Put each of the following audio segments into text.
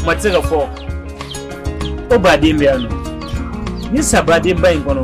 maa tɛ se k'a fɔ ko baden bɛ yan nɔ ni sabadenba in kɔnɔ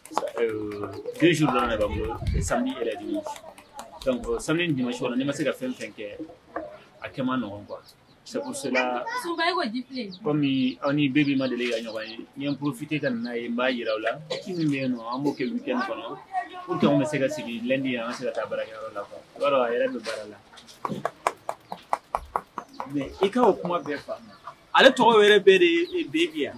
deux jours dɔrɔn de b'an bolo samedi et le dimanche donc euh, samedi ni dimanche kɔnɔ n'i ma se ka fɛn fɛn kɛ a kɛ man nɔgɔn quoi c'est pour cela comme aw ni bebi ma deli ka ɲɔgɔn ye n ye n profiter ka na n'a ye n b'a yira aw la ci min bɛ yen nɔ an b'o kɛ week-end kɔnɔ pour que anw bɛ se ka sigi lundi an ka se ka taa baarakɛyɔrɔ la quoi i b'a dɔn a yɛrɛ bɛ baara la mais i ka o kuma bɛɛ faamu ale tɔgɔ yɛrɛ bɛɛ de ye bebi yan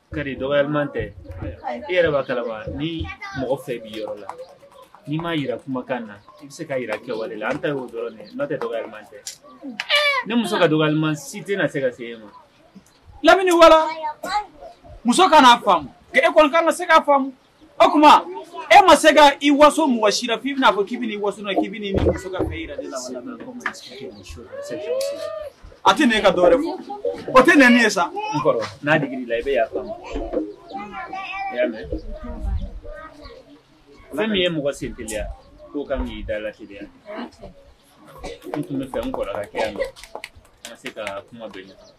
kari dɔgɔyaliman tɛ i yɛrɛ b'a kalama ni mɔgɔ fɛ b'i yɔrɔ la n'i m'a yira kumakan na i bɛ se k'a yira kɛwale la an ta y'o dɔrɔn de n'o tɛ dɔgɔyaliman tɛ ne muso ka dɔgɔyaliman si tɛna se ka se e ma lamini wala muso kan'a faamu nka e kɔni kan ka se k'a faamu o kuma e ma se ka i waso mɔgɔ si la f'i bɛn'a fɔ k'i bɛ n'i waso na k'i bɛ n'i muso ka fɛ yira de la wala a tɛ ne ka dɔ wɛrɛ fɔ o tɛ nɛni ye sa n kɔrɔ n'a digir'i la i bɛ yafa n ma i y'a mɛn fɛn min ye mɔgɔ sen teliya k'o kan k'i da la teliya n tun b'a fɛ n kɔrɔ ka kɛ yan nɔ n ka se ka kuma bɛɛ ɲɛfɔ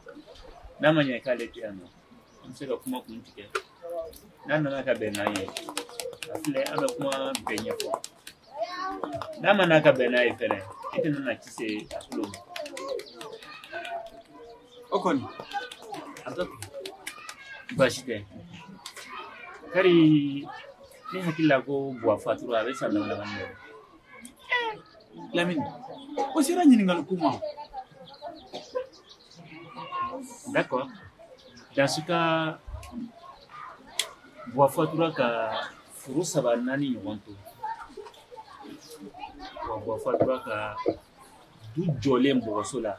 n'a ma ɲɛ k'ale tɛ yan nɔ an bɛ se ka kuma kun tigɛ n'a nana ka bɛn n'an ye a filɛ an bɛ kuma bɛɛ ɲɛfɔ n'a ma na ka bɛn n'an ye fɛnɛ e tɛna na ci se a tulo ma o kɔni a tɔ baasi tɛ kari ne hakili la ko buwa fatura a bɛ san dama dama bɔ lamini o sera ɲininkali ko ma D'accord. Dans ce cas, buwa fatura ka furu saba naani ɲɔgɔn to wa buwa fatura ka du jɔlen bɔgɔso la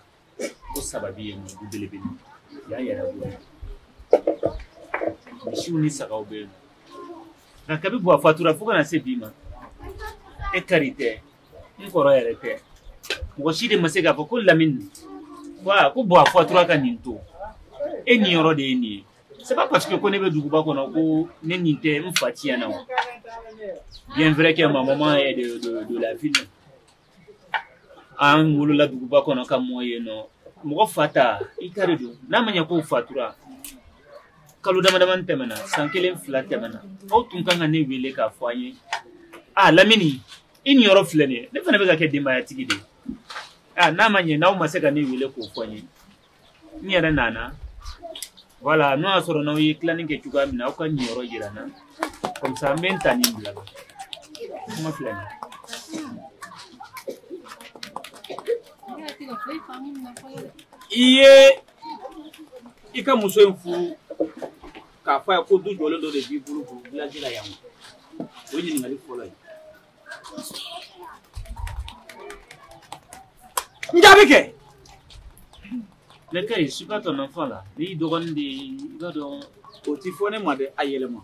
ko sababi ye nin du belebele y'a yɛrɛ bɔ misiw ni sagaw bɛ yen nka kabi buwa fatura fo ka na se bi ma e kari tɛ n kɔrɔ yɛrɛ tɛ mɔgɔ si de ma se k'a fɔ ko lamini wa ko buwa fatura ka nin to e niyɔrɔ de ye nin ye c'est pas parce que ko ne bɛ duguba kɔnɔ ko ne ni tɛ n fa tiɲɛ na wa bien vrai que ma maman est de, de, de la ville an wolola duguba kɔnɔ ka mɔ yen nɔ mɔgɔ fa ta i ta de don n'a ma ɲɛ k'o fatura kalo dama damani tɛmɛna san kelen fila tɛmɛna aw tun kan ka ne wele k'a fɔ an ye a lamini i niyɔrɔ filɛ nin ye ne fana bɛ ka kɛ denbayatigi de ye a n'a ma ɲɛ n'aw ma se ka ne wele k'o fɔ n ye n yɛrɛ nana wala n'o y'a sɔrɔ n'aw ye tilanni kɛ cogoya min na aw ka n niyɔrɔ jira n na kɔmisa an bɛ n ta nin bila la kuma filɛ nin i ye i ka muso in furu k'a fɔ a ye ko du jɔlen dɔ de b'i bolo ko vilaji la yan o ye ɲininkali fɔlɔ ye n jaabi kɛ lɛkɛ je suis pas ton enfant là n y'i dɔgɔnin de ye i b'a dɔn o ti fɔ ne ma dɛ a yɛlɛma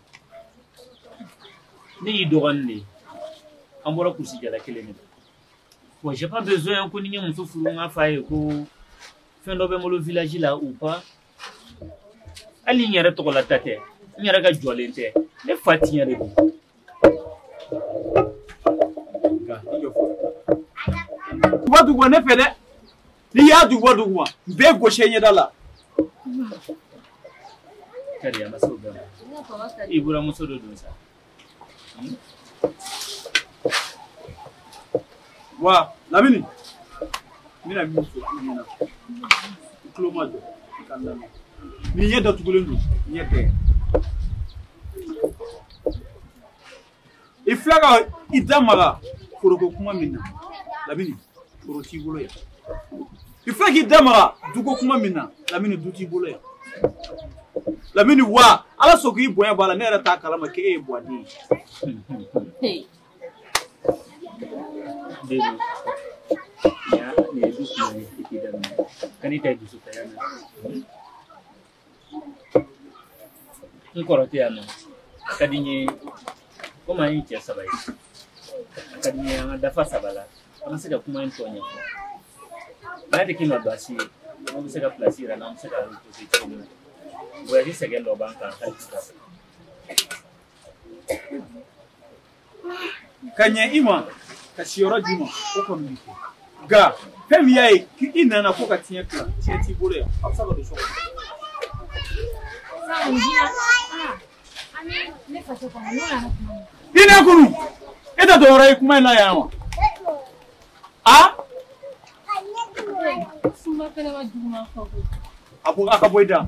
ne y'i dɔgɔnin de ye an bɔra kurusi jala kelen de la bon j'ai pas besoin ko ni n ye muso furu n k'a fɔ a ye ko fɛn dɔ bɛ n bolo village la ou pas hali n yɛrɛ tɔgɔla ta tɛ n yɛrɛ ka jɔlen tɛ ne fa tiɲɛ de don duguba duguba ne fɛ dɛ n'i y'a duguba duguba n b'i gosi i ɲɛda la kari a ma se o bɛɛ ma i buranmuso de don sa wa lamini n bɛna min fɔ i ɲɛna i tulo majɔ i k'a lamɛn n'i ɲɛ datugulen don ɲɛ tɛ i filɛ ka i da maga foroko kuma min na lamini foro t'i bolo yan i filɛ k'i da maga duko kuma min na lamini du t'i bolo yan lamini wa ala sɔn k'i bonya b'a la ne yɛrɛ t'a kalama k'e ye buwa den ye Deni, ya ne dusu ne iti dan, kan ita dusu ta yana. n kɔrɔ tɛ yan nɔ a ka di n ye komi an ye cɛ saba ye a ka di n ye an ka dafa saba la an bɛ se ka kuma in tɔ ɲɛfɔ n'a tɛ k'i ma baasi ye i bɛ se ka pilasi yira an na an bɛ se ka reposer cogo min na voyage sɛgɛn dɔ b'an kan hali sisan ka ɲɛ i ma ka siyɔrɔ d'i ma o kɔni bɛ kɛ nka fɛn min y'a ye i nana ko ka tiɲɛ tila tiɲɛ t'i bolo yan a bɛ se ka don so kɔnɔ. i n'a kunu e tɛ dɔwɛrɛ ye kuma in na yan wa a. a ko a ka bɔ i da.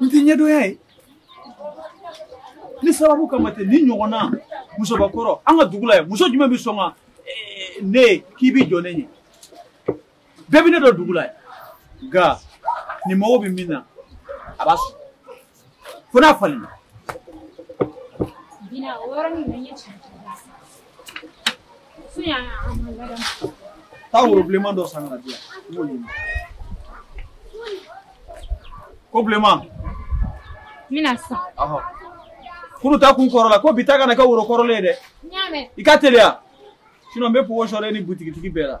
n tɛ ɲɛdɔnya ye ni sababu kama tɛ nin ɲɔgɔnna musobakɔrɔ an ka dugu la yan muso jumɛn bɛ sɔn ka eh, ne k'i bɛ jɔ ne ɲɛ bɛɛ bɛ ne dɔn dugu la ye nka ne mago bɛ min na a b'a sɔrɔ fo n'a falenna. Bina o yɔrɔnin bɛ n ye cɛn cɛn la sisan. Fo yan a ma ladamu. Taa woro bilenman dɔ san ka n'a di yan n b'o ɲimi. Ko bilenman. N bɛ na sisan. Ɔhɔ. Kunu ta kun kɔrɔla ko bi ta kana kɛ woro kɔrɔlen ye dɛ. N y'a mɛn. I ka teliya. Sinon n bɛ pogo sɔrɔ e ni butigitigi bɛɛ la.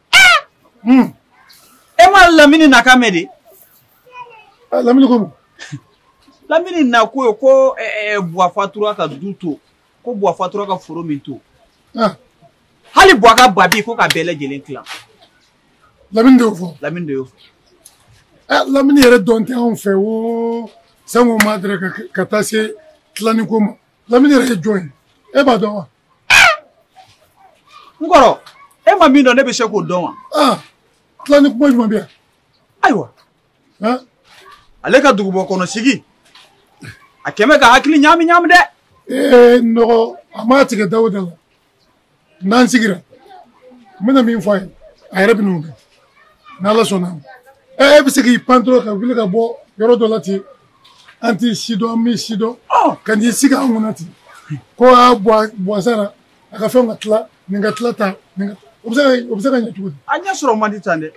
Hmm. e ma lamini nakan mɛn de ah, lamini ko mun lamini nako ye ko eh, eh, buwa fatura ka du to ko buwa fatura ka foro min to ah. hali buwa ka babi ko ka bɛɛ lajɛlen tilan lamini de y'o fɔ lamini de y'o fɔ eh, lamini yɛrɛ dɔn tɛ anw fɛ o sango ma dɛrɛ ka taa se tilanni ko ma lamini yɛrɛ ye jɔn ye e b'a dɔn wa n kɔrɔ e ma min dɔn ne bɛ se k'o dɔn wa. Ah, tilanni kuma jumɛn bɛ yan. ayiwa ale ka duguba kɔnɔ sigi a kɛlen bɛ k'a hakili ɲaami ɲaami dɛ. ee n dɔgɔ a m'a tigɛ dawuda la n'an sigira n bɛna min fɔ a ye a yɛrɛ bɛn'o dɔn n'ala sɔnna ɛ e bɛ se k'i pan dɔrɔn ka wuli ka bɔ yɔrɔ dɔ la ten an t'i sidɔn an m'i sidɔn ka n'i sigi an kunna ten ko buwa sara a ka fɛnw ka tila nin ka tila ta nin ka o bɛ se ka o bɛ se ka ɲɛ cogo di a ɲɛ sɔrɔ man di tan dɛ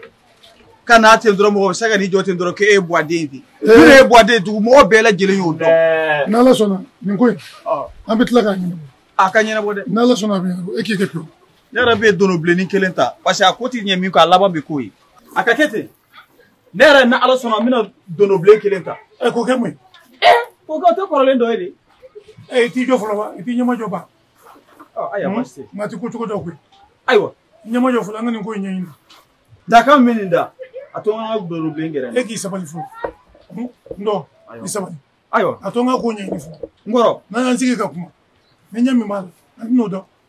ka na ten dɔrɔn mɔgɔ bɛ se ka n'i jɔ ten dɔrɔn k'e ye buwaden ten n'e ye buwaden dugu mɔgɔ bɛɛ lajɛlen y'o dɔn n'ala sɔnna nin ko in an bɛ tila k'a ɲɛnabɔ a ka ɲɛnabɔ dɛ n'ala sɔnna a bɛ ɲɛnabɔ e k'i kɛ pewu ne yɛrɛ bɛ dono bilenni kelen ta parce que a ko tɛ ɲɛ min kɔ a laban bɛ k'o ye a ka kɛ ten ne yɛrɛ ni ala sɔnna n bɛna donobilen kelen ta ɛ k'o kɛ mun ye k'o kɛ oto kɔrɔlen dɔ ye de ɛ i t'i jɔ fɔlɔ ba i t'i ɲɛmajɔ ba ayiwa hmm? baasi tɛ nka ti ko cogo don koyi ayiwa ɲɛmajɔ fɔlɔ an ka nin ko in ɲɛɲini dakan min nin da a to n ka donobilen gɛrɛ e k'i sabali fɔlɔ hmm? n dɔgɔ i sabali ayiwa a to n ka ko ɲɛɲini fɔlɔ n kɔrɔ n'an y'an sigi ka kuma ni ɲɛ min b'a la an bɛn'o dɔn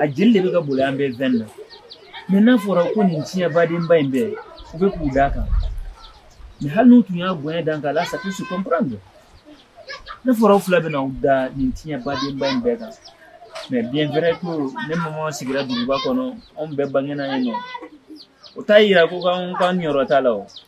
a jeli de bɛ ka boli an bɛɛ veine na mais n'a fɔra ko nin tiɲɛ badenba in bɛɛ u bɛ k'u d'a kan mais hali n'u tun y'a bonya dan k'a la ça peut se comprendre n'a fɔra u fila bɛna u da nin tiɲɛ badenba in bɛɛ kan mais bien vrai ko ne mama sigira duguba kɔnɔ anw bɛɛ bangena yen nɔ o t'a yira ko k'an k'an niyɔrɔ t'a la o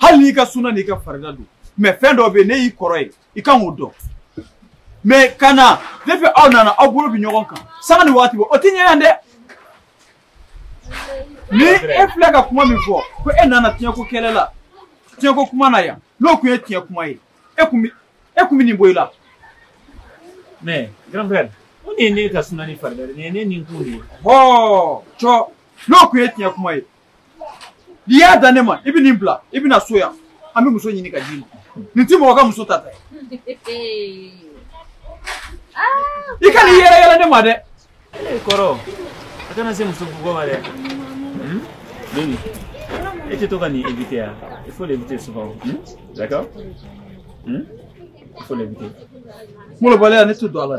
hali n'i ka suna n'i ka farida don mais fɛn dɔ bɛ yen ne y'i kɔrɔ ye i kan k'o dɔn mais ka na ne fɛ aw nana aw bolo bɛ ɲɔgɔn kan sanga ni waati bɛɛ o tɛ ɲɛ yan dɛ ni e filɛ ka kuma min fɔ ko e nana tiɲɛko kɛlɛ la tiɲɛko kuma na yan n'o tun ye tiɲɛ kuma ye e kun bɛ e kun bɛ nin bɔ i la. mais grand frère ko nin ye ne ka suna ni farida de ye nin ye ne ni kun de ye. hɔɔ cɔ n'o tun ye tiɲɛ kuma ye n'i y'a da ne ma i bɛ nin bila i bɛ na so yan an bɛ muso ɲini ka d'i ma nin tɛ mɔgɔ ka muso tata ye i kana i yɛrɛyɛrɛ ne ma dɛ. ee kɔrɔ a kana se muso bugɔ ma dɛ. Denis, et tu dois éviter. Hein. Il faut l'éviter souvent. Hmm? D'accord hmm? Il faut l'éviter. Moi, le balai, on est tout dans la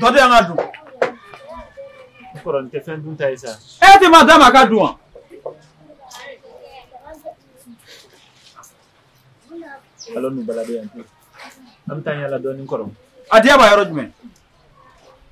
dɔ di yan ka dun. n kɔrɔ nin tɛ fɛn dunta ye sa. e tɛ ma d'a ma a ka dun wa. allons nous balader un peu an bɛ taa yaala dɔɔnin kɔrɔ. a diya b'a yɔrɔ jumɛn.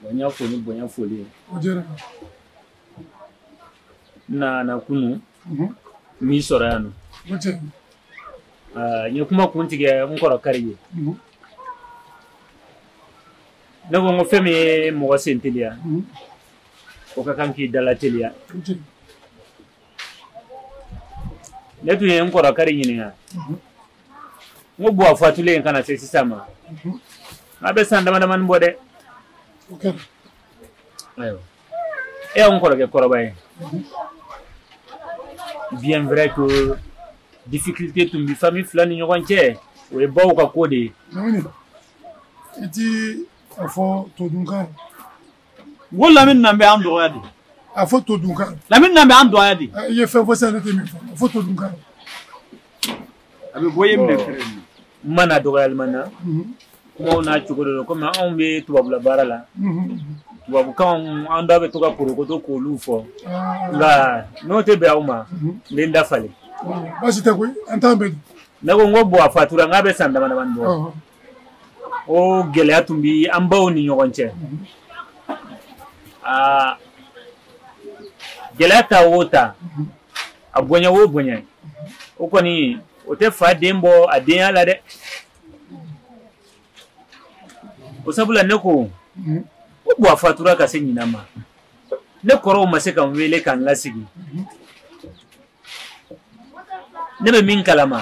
Bon n y'a fo ni bonya foli ye. O diyara n ye. N nana kunu. Unhun. N m'i sɔrɔ yan nɔ. O diyara n ye. Aa n ye kuma kun tigɛ n kɔrɔ Kari ye. Unhun. Ne ko n ko fɛn min ye mɔgɔ sen teliya. Unhun. O ka kan k'i da lateliya. O diyara n ye. ne tun ye n kɔrɔ kari ɲininka n ko buwa fatulen in ka na se sisan ma a bɛ san dama damani bɔ dɛ ayiwa e y'an kɔrɔkɛ kɔrɔba ye bien vrai que difficulté tun bi famille fila ni ɲɔgɔn cɛ o ye baw ka ko de ye i ti a fɔ todunkan Ko lamini na bɛ an dɔgɔya de a fɔ todunkan lamini na bɛ an dɔgɔya de i ye fɛn fɔ sa ne tɛ min fɔ a fɔ todunkan a bɛ bɔ ye minɛ fɛrɛ de ma na dɔgɔyalima na kumaw n'a cogo de don komi anw bɛ tubabula baara la tubabukanw an da bɛ to ka porokoto k'olu fɔ nka n'o tɛ bɛn aw ma n bɛ n da falen baasi tɛ koyi an t'an bɛ ne ko n ko buwa fatura n k'a bɛ san dama damani bɔ o gɛlɛya tun bɛ an baw ni ɲɔgɔn cɛ aa gɛlɛya ta o ta a bonya o bonya o kɔni o tɛ fa den bɔ a denya la dɛ o sabula ne ko o buwa fatura ka se ɲinan ma ne kɔrɔw ma se ka n wele ka n lasigi ne bɛ min kalama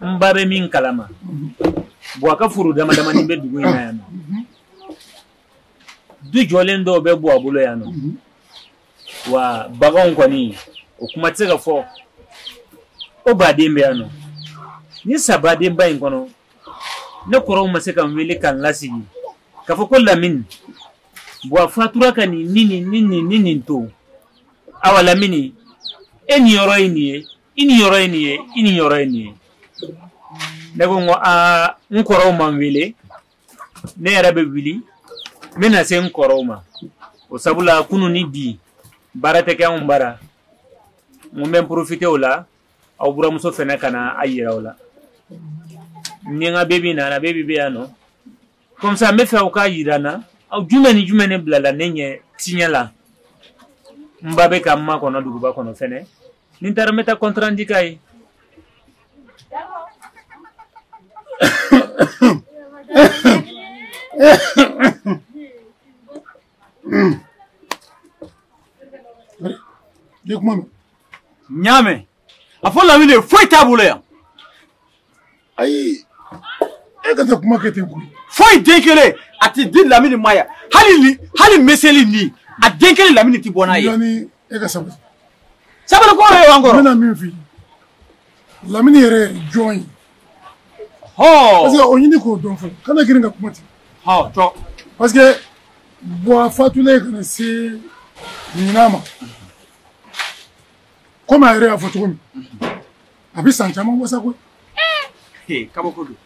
n ba bɛ min kalama buwa ka foro dama damani bɛ dugu in na yan nɔ du jɔlen dɔw bɛ buwa bolo yan nɔ wa baganw kɔni o kuma tɛ se ka fɔ o baden bɛ yan nɔ ni sabadenba in kɔnɔ ne kɔrɔw ma se ka n wele ka n lasigi k'a fɔ ko lamini buwa fatura ka nin ni nin ni nin ni nin to awa lamini e ni yɔrɔ ye nin ye i ni yɔrɔ ye nin ye i ni yɔrɔ ye nin ye ne ko n ko aa n kɔrɔw ma n wele ne yɛrɛ bɛ wuli n bɛna se n kɔrɔw ma o sabula kunu ni bi baara tɛ kɛ anw bara n ko n bɛ n profiter o la aw buramuso fɛnɛ ka na a yira aw la n ni n ka bebi nana bebi bɛ yan nɔ comme ça n bɛ fɛ aw k'a yira n na aw jumɛn ni jumɛn ne bilala ne ɲɛ tiɲɛ la n ba bɛ ka n makɔnɔ duguba kɔnɔ fɛnɛ ni n taara n bɛ taa compte rendu k'a ye de kuma mɛn n y'a mɛn a fɔ lamini ye foyi t'a bolo yan ayi e ka taa kuma kɛ ten koyi foyi den kelen a tɛ di lamini ma yan hali ni hali meselinin a den kelen lamini tɛ bɔ n'a ye yanni e ka sabali sabali ko ye wa n kɔrɔ n bɛna min f'i ye lamini yɛrɛ ye jɔn ye hɔn parce que o ɲini k'o dɔn fɔlɔ kana girin ka kuma ten hɔn jɔ parce que buwa fatulen ka na se ɲinan ma komi a yɛrɛ y'a fɔ cogo min a bɛ san caman bɔ sa koyi eh! kabako don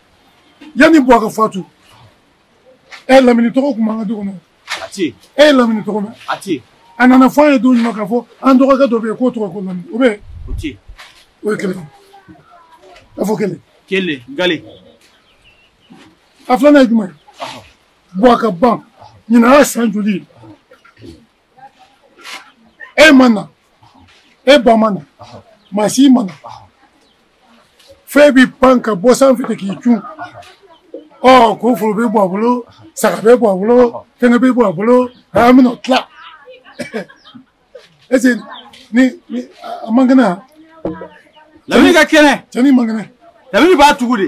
yanni buwa ka fatu e ye lamini tɔgɔ kun b'an ka du kɔnɔ a tɛ yen e ye lamini tɔgɔ mɛn a tɛ yen a nana fɔ an ye don jumɛn k'a fɔ an dɔgɔkɛ dɔ bɛ yen k'o tɔgɔ ko lamini o bɛ yen o tɛ yen o ye kelen a fɔ kelen kelen gale a filanan ye jumɛn ye buwa ka ban ɲinan y'a san joli ye e ma na e ba ma na maa si ma na fo e b'i pan ka bɔ sanfɛ ten k'i cun ɔ ko foro bɛ buwa bolo saga bɛ buwa bolo fɛngɛ bɛ buwa bolo an bɛna o tila est-ce que ni a man kɛnɛ yan lamini ka kɛnɛ cɛ nin man kɛnɛ lamini b'a tugu de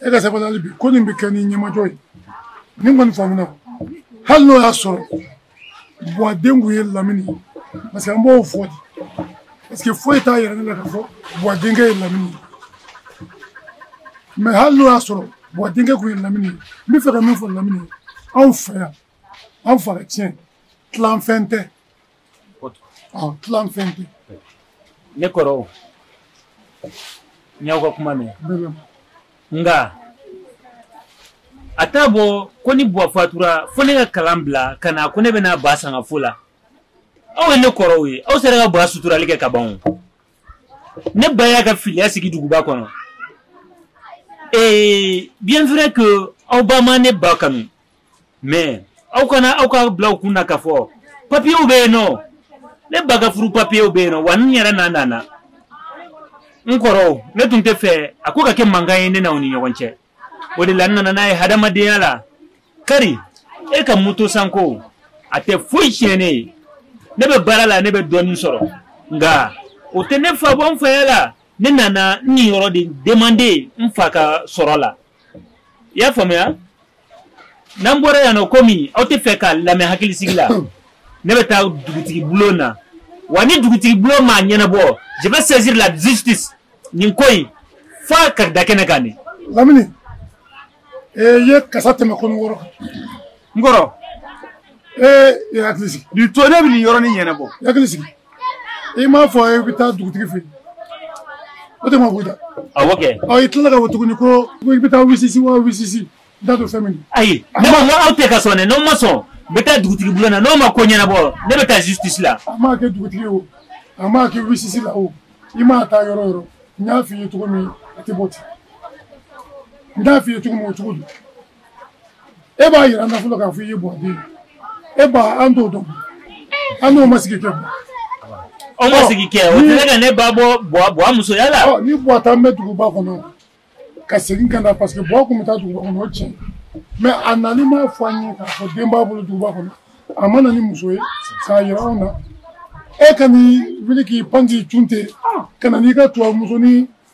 e ka sabali hali bi ko nin bɛ kɛ ni ɲɛmajɔ ye ni ko nin faamuna hali n'o y'a sɔrɔ buwa den kun ye lamini ye parce que an b'o fɔ de parce que foyi t'a yira ne la ka fɔ buwa denkɛ ye lamini ye mais hali n'o y'a sɔrɔ buwa denkɛ kun ye lamini ye n bɛ fɛ ka min fɔ lamini ye anw fɛ yan anw fa ka tiɲɛ tilanfɛn tɛ Tlanfɛn tɛ ne kɔrɔw n y'aw ka kuma mɛn nka a t'a bɔ ko ni buwa fatura fo ne ka kalan bila ka na ko ne bɛna ba sanga fo la aw ye ne kɔrɔw ye aw sera ka ba suturali kɛ ka ban ne ba y'a ka filiya sigi duguba kɔnɔ ee bien vrai que aw ba ma ne ba kanu mɛ aw kana aw k'a bila aw kun na k'a fɔ papiyew bɛ yen nɔ ne ba ka furu papiyew bɛ yen nɔ wa n yɛrɛ na nana n kɔrɔw ne tun t'a fɛ a ko ka kɛ mankan ye ne n'aw ni ɲɔgɔn cɛ o de la n nana n'a ye hadamadenya la kari e ka moto sanko a tɛ foyi tiɲɛ ne ye ne bɛ baara la ne bɛ dɔɔnin sɔrɔ nka o tɛ ne fa bɔ n faya la ne nana n niyɔrɔ de demande n fa ka sɔrɔ la i y'a faamuya n'an bɔra yan nɔ komi aw t'a fɛ k'a lamɛn hakilisigi la ne bɛ taa dugutigi bulon na wa ni dugutigi bulon m'a ɲɛnabɔ je vais saisir la justice nin ko in f'a ka da kɛnɛ kan de lamini ee ye kasa tɛmɛ kɔnɔ wɔrɔ n kɔrɔ ee i hakili sigi nin to ne bɛ nin yɔrɔnin ɲɛnabɔ i hakili sigi i m'a fɔ i bɛ taa dugutigi fɛ yen o tɛ ma bɔ i da awɔ kɛ ɔ i tilala k'a fɔ tuguni ko ko i bɛ taa wisisi wa wisisi n t'a dɔn fɛn min ayi ne ko n ko aw tɛ ka sɔn dɛ n'aw ma sɔn n bɛ taa dugutigi bulon na n'aw ma ko ɲɛnabɔ ne bɛ taa justice la a maa kɛ dugutigi ye o a maa kɛ wisisi la o i maa taa yɔrɔ o yɔrɔ n y'a f'i ye cogo min a tɛ bɔ ten n y'a f'i ye cogo min o cogo don e b'a yira an na fɔlɔ k'a fɔ i ye buwa den e ba an t'o dɔn an n'o ma sigi kɛ bɔ aw ma sigi kɛ o tɛ ka ne ba bɔ buwa musoya la ni buwa tun bɛ duguba kɔnɔ ka segin ka na parce que buwa kun bɛ taa duguba kɔnɔ o tiɲɛ mɛ a nani m'a fɔ an ye k'a fɔ den b'a bolo duguba kɔnɔ a ma na ni muso ye k'a yira anw na e ka n'i wuli k'i pan k'i cun ten ka na n'i ka tubabu muso ni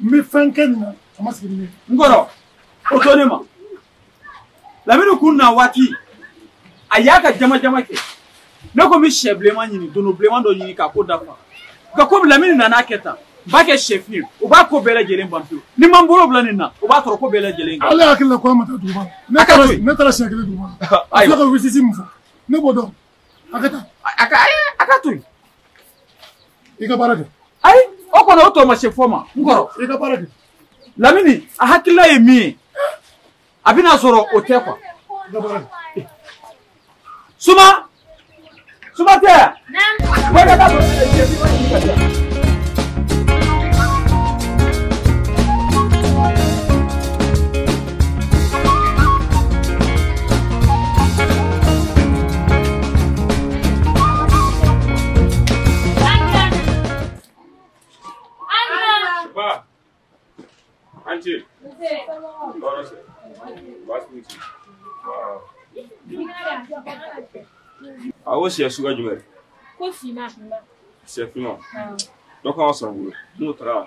n bɛ fɛn kɛ nin na a ma sigi ni n kɔrɔ o to ne ma lamini kun na waati a y'a ka jama jama kɛ ne ko n bɛ sɛ bilenman ɲini dono bilenman dɔ ɲini k'a ko dafa nka komi lamini nana kɛ tan n b'a kɛ sɛfin ye o b'a ko bɛɛ lajɛlen ban pewu ne maa n bolo bila nin na o b'a sɔrɔ ko bɛɛ lajɛlen kan. ale hakili la ko an ma taa duguba la ne taara siɲɛ kelen duguba la a filɛ ka wisisi min fɔ ne b'o dɔn. a ka taa a ka ayi a ka to yen i ka baara kɛ ayi o kɔni o tɔ ma se fɔ ma n kɔrɔ i ka baara kɛ lamini a hakilila ye min ye a bɛna sɔrɔ o tɛ kuwa i ka baara kɛ suma suma tɛ yan bɔ i ka taa sɔrɔ e cɛ bi ma ɲini ka di yan. A ko sɛ suguya jumɛn ye? Ko finma. Sɛ finma. Dɔ kan ka sɔrɔ n bolo. N'o taara.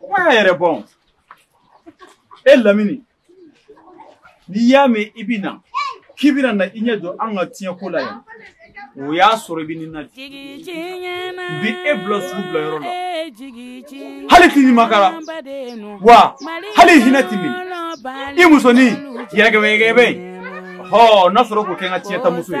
kuma y'a yɛrɛ bɔn e lamini n'i y'a mɛn i bɛ na k'i bɛna na i ɲɛ don an ka tiɲɛko la yan o y'a sɔrɔ i bɛ nin na bi bi e bila sugu bila yɔrɔ la hali t'i ɲumakara wa hali hinɛ t'i minɛ i musonin yɛgɛbɛyɛgɛbɛ in hɔ n'a sɔrɔ k'o kɛ n ka tiɲɛtamuso ye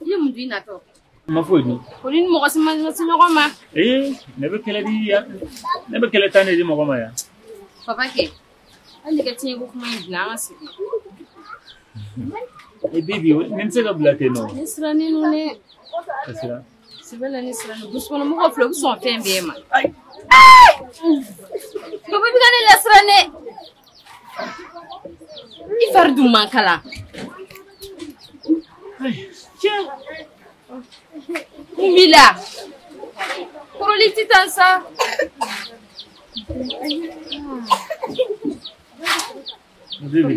I ye mun di natɔ ma foyi dun ko ni mɔgɔ si ma ɲɛsin ɲɔgɔn ma ee ne bɛ kɛlɛ di yan ne bɛ kɛlɛ tan de di mɔgɔ ma yan papa kɛ hali ne ka tiɲɛko kuma in bila an ka sigi e bibi ne tɛ se k'a bila ten nɔ ne sirannen don dɛ ka siran sɛbɛ la ne siranna dusukɔnɔ mɔgɔ filɛ u bɛ sɔn fɛn bɛɛ ma papa i bɛ ka ne lasiran dɛ i fari dun man kalan mun b'i la kɔrɔlen i tɛ tan sa Vivi.